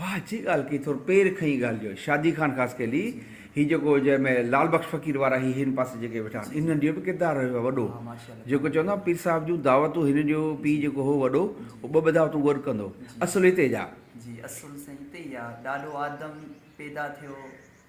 واھ اچي ڳالھ ڪئي ٿور پير کئين ڳالھ جو شادي خان خاص کي لي هي جيڪو جنهن ۾ لال بخش فقير وارا هي هن پاسي جيڪي ويٺا آهن انهن جو به ڪردار رهيو آهي وڏو جيڪو چوندا آهن پير صاحب جون دعوتون هن جو پي جيڪو هو وڏو هو ٻه ٻه دعوتون گڏ ڪندو اصل هتي جا. جي اصل سائين هتي ئي آ ڏاڏو آدم پيدا ٿيو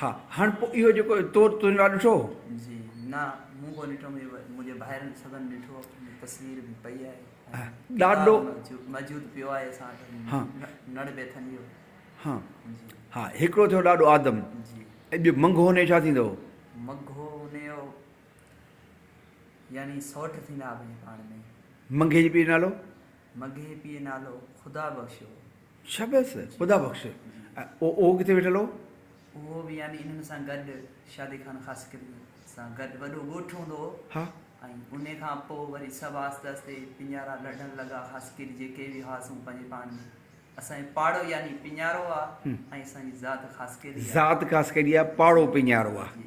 ها، هاڻ پوء اهو جيڪو تو تون لاء ڏٺو هو؟ جي، نه، مون ڪو ڏٺو، منهنجي ڀائرن سڀن ڏٺو، تصوير به پئي آهي ۽ ڏاڏو ڪتاب موجود پيو آهي اسان وٽ، نڙ بيٿن جو. ها، ها، هڪڙو ٿيو ڏاڏو آدم. جي. ۽ ٻيو منگهو هونيو ڇا ٿيندو؟ منگهو هونيو يعني سئوٽ ٿيندا ٻئي پاڻ ۾. منگهي جي پيء جو نالو؟ منگهي جي پيء جو نالو خدا بخش هو. شابس خدا بخش ۽ اهو ڪٿي ويٺل هو؟ اهو به يعني انهن سان گڏ شادي خان خاصخيلي سان گڏ وڏو ڳوٺ هوندو هو ها. ۽ انهي کان پوء وري سڀ آهستي آهستي پڃارا لڙهڻ لڳا خاصخيلي جيڪي به هئاسون پنهنجي پاڻ ۾ اسان جو پاڙو يعني پڃارو آ ۽ اسان جي ذات خاصخيلي آ. ذات خاصخيلي آ پاڙو پڃارو آ. جي.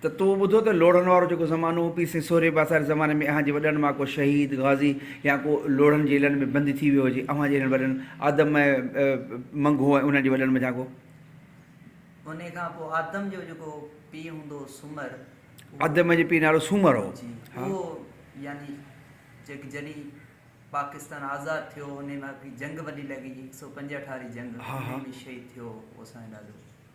ته تو ٻڌو ته لوڙهن وارو جيڪو زمانو هو، پير سين سورهيه پاساري زماني ۾ اهان جي وڏن مان ڪو شهيد، غازي يا ڪو لوڙهن جيلن ۾ بند ٿي ويو هجي، اوهان جهڙن وڏن آدم ۽ منگهو ۽ انهن جي وڏن منجهان ڪو. انهيء کان پوء آدم جو جيڪو پيء هوندو هو سومر، اهو. آدم جي پيء جو نالو سومر هو. جي، اهو يعني جيڪ جڏهن پاڪستان آزاد ٿيو، انهيء مهل هڪڙي جنگ وڏي لڳي، هڪ سؤ پنجهٺ واري جنگ، انهيء ۾ شهيد ٿيو هو اسان جو ڏاڏو.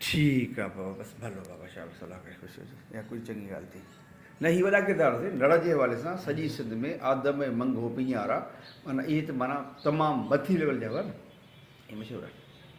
ٺيڪ آ بابا بس ڀلو بابا شاھ بس الله ڪري خوش هجي اها ڪجهه چڱي ڳالهه ٿي نه هي وڏا ڪردار ٿي نڙ جي حوالي سان سڄي سنڌ ۾ آدم ۽ منگهو پينارا معنيٰ اهي ته معنيٰ تمام مٿي ليول جا هئا نه اهي مشهور آهن.